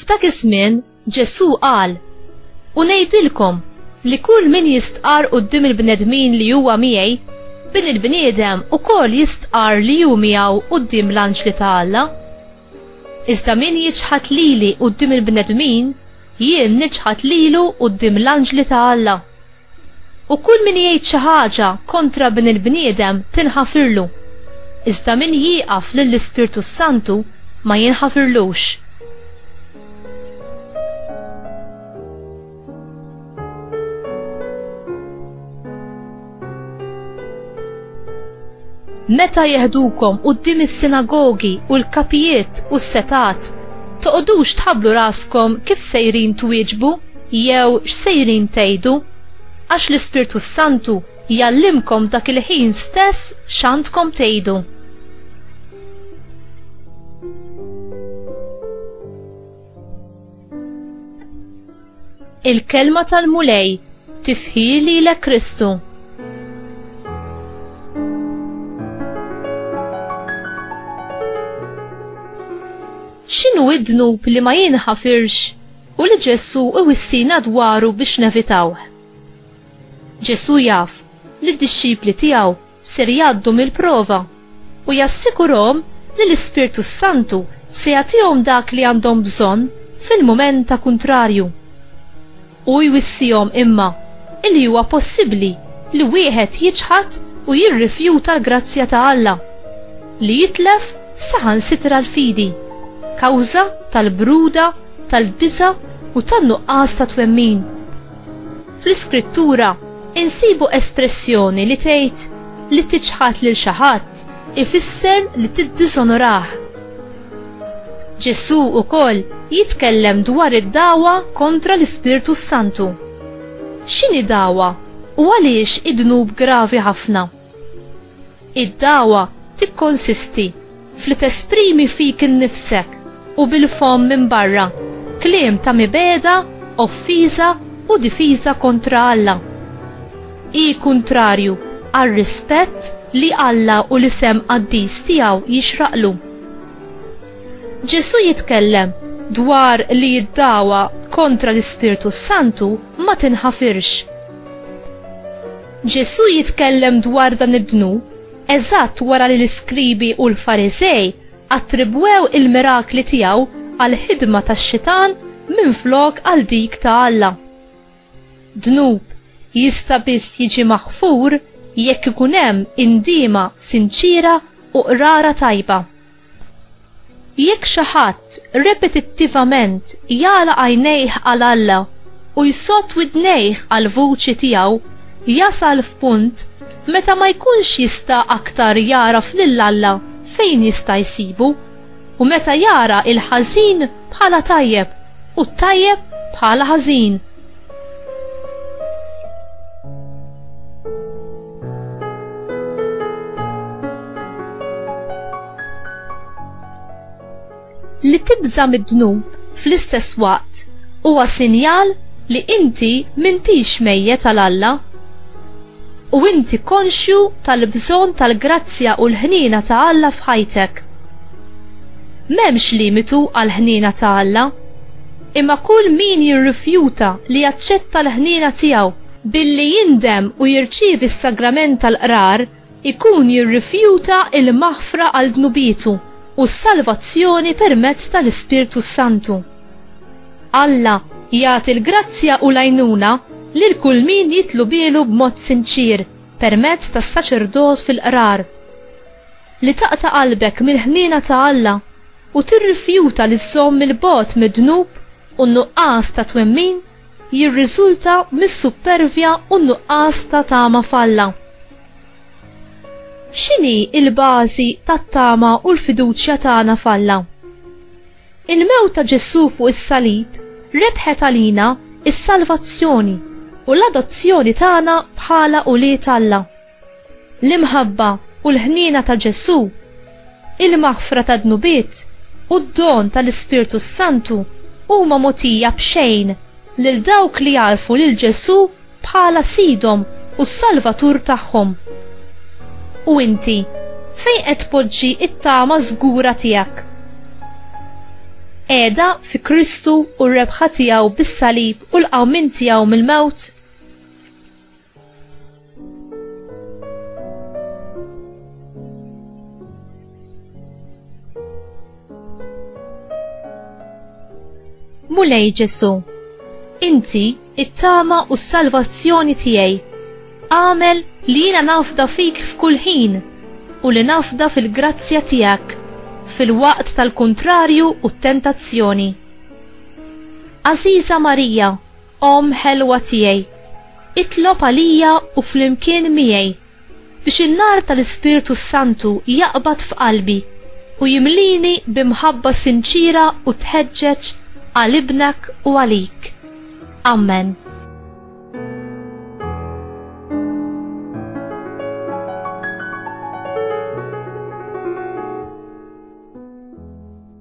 F'dak iż-żmien Ġesù qal, U ngħidilkom li kull min jistqar quddiem il-bnedmin li huwa miegħi, Bin il-bniedem ukoll jistqar li hu miegħu quddiem l-anġli ta' Alla. Iżda min jiċħad lili quddiem il-bnedmin, jien niċħad lilu quddiem l-anġli ta' Alla. U kull min jgħid xi ħaġa kontra Ibn il-bniedem tinħafirlu. Iżda min jieqaf lill-Ispirtu s-Santu ma jinħafirlux. Meta jeħdukom quddiem is-sinagogi u l-kapijiet u s-setgħat, toqgħodux tħabblu raskom kif sejrin twieġbu jew x'sejrin tgħidu, għax l-Ispirtu s-Santu jgħallimkom dak il-ħin stess x'għandkom tgħidu. Il-kelma tal-Mulej tifħi lilek Kristu. X'inhu id-dnub li ma jinħafirx u li Ġesù iwissina dwaru biex nevitawh? Ġesù jaf li d-dixxipli tiegħu ser jgħaddu mill-prova, u jassigurahom li l-Ispirtu s-Santu se jagħtihom dak li għandhom bżonn fil-mument ta' kuntrarju. Hu jwissihom imma illi huwa possibbli li wieħed jiċħad u jirrifjuta l-grazzja ta' Alla, li jitlef saħansitra l-fidi, kawża tal-bruda, tal-biża' u tan-nuqqas ta' twemmin. Fl-Iskrittura, insibu espressjoni li tgħid li tiċħad lil xi ħadd ifisser li tiddisonorah. Ġesù wkoll jitkellem dwar id-dagħwa kontra l-Ispirtu s-Santu. X'inhi dagħwa u għaliex hi dnub gravi ħafna? Id-dagħwa tikkonsisti f'li tesprimi fik innifsek u bil-fomm minn barra kliem ta' mibegħda, offiża u difiża kontra Alla. Hi kuntrarju għar-rispett li Alla u l-isem qaddis tiegħu jixraqlu. Ġesù jitkellem dwar li d-dagħwa kontra l-Ispirtu s-Santu ma tinħafirx. Ġesù jitkellem dwar dan id-dnub eżatt wara li l-iskribi u l-Fariżej attribwew il-mirakli tiegħu għal ħidma tax-xitan minflok għal dik ta' Alla. Dnub jista' biss jiġi maħfur jekk ikun hemm indiema sinċiera u qrara tajba. Jekk xi ħadd repetittivament jagħlaq għajnejh għal Alla u jsodd widnejh għall-vuċi tiegħu, jasal f'punt meta ma jkunx jista' aktar jagħraf lil Alla fejn jista' jsibu, u meta jara l-ħażin bħala tajjeb u t-tajjeb bħala ħażin. Li tibża mid-dnub fl-istess waqt huwa sinjal li inti mintix mejjet għal Alla u inti konxju tal-bżonn tal-grazzja u l-ħnina ta' Alla f'ħajtek. M'hemmx limitu għall-ħnina ta' Alla, imma kull min jirrifjuta li jaċċetta l-ħnina tiegħu Billi jindem u jirċievi s-sagrament tal-qrar, ikun jirrifjuta l-maħfra għal dnubietu u s-salvazzjoni permezz tal-Ispirtu s-Santu. Alla jagħti l-grazzja u l-għajnuna lil kull min jitlubielu b'mod sinċier permezz tas-saċerdot fil-qrar. Li taqta' qalbek mill-ħniena ta' Alla u tirrifjuta li żżomm 'il bogħod mid-dnub u n-nuqqas ta' twemmin jirriżulta mis-suppervja u n-nuqqas ta' tama f'Alla. X'inhi l-bażi tat-tama u l-fiduċja tagħna f'Alla? Il-mewt ta' Ġesù fuq is-salib rebħet għalina s-salvazzjoni u l-adozzjoni tagħna bħala ulied Alla. L-imħabba u l-ħniena ta' Ġesù, il-maħfra tad-dnubiet u d-don tal-Ispirtu s-Santu huma mogħtija b'xejn lil dawk li jagħrfu lil Ġesù bħala Sidhom u s-Salvatur tagħhom. U inti, fejn qed tpoġġi t-tama żgura tiegħek? Qiegħda fi Kristu u r-rebħa tiegħu bis-salib u l-qawmien tiegħu mill-mewt? Mulej Ġesu, inti it-tama u s-salvazzjoni tiegħi. Għamel li jiena nafda fik f'kull ħin u li nafda fil-grazzja tiegħek fil-waqt tal-kuntrarju u t-tentazzjoni. Aziza Marija, Omm ħelwa tiegħi, itlob għalija u flimkien miegħi biex in-nar tal-Ispirtu s-Santu jaqbad f'qalbi u jimlieni bi mħabba sinċiera u tħeġġeġ għal Ibnek u għalik. Amen.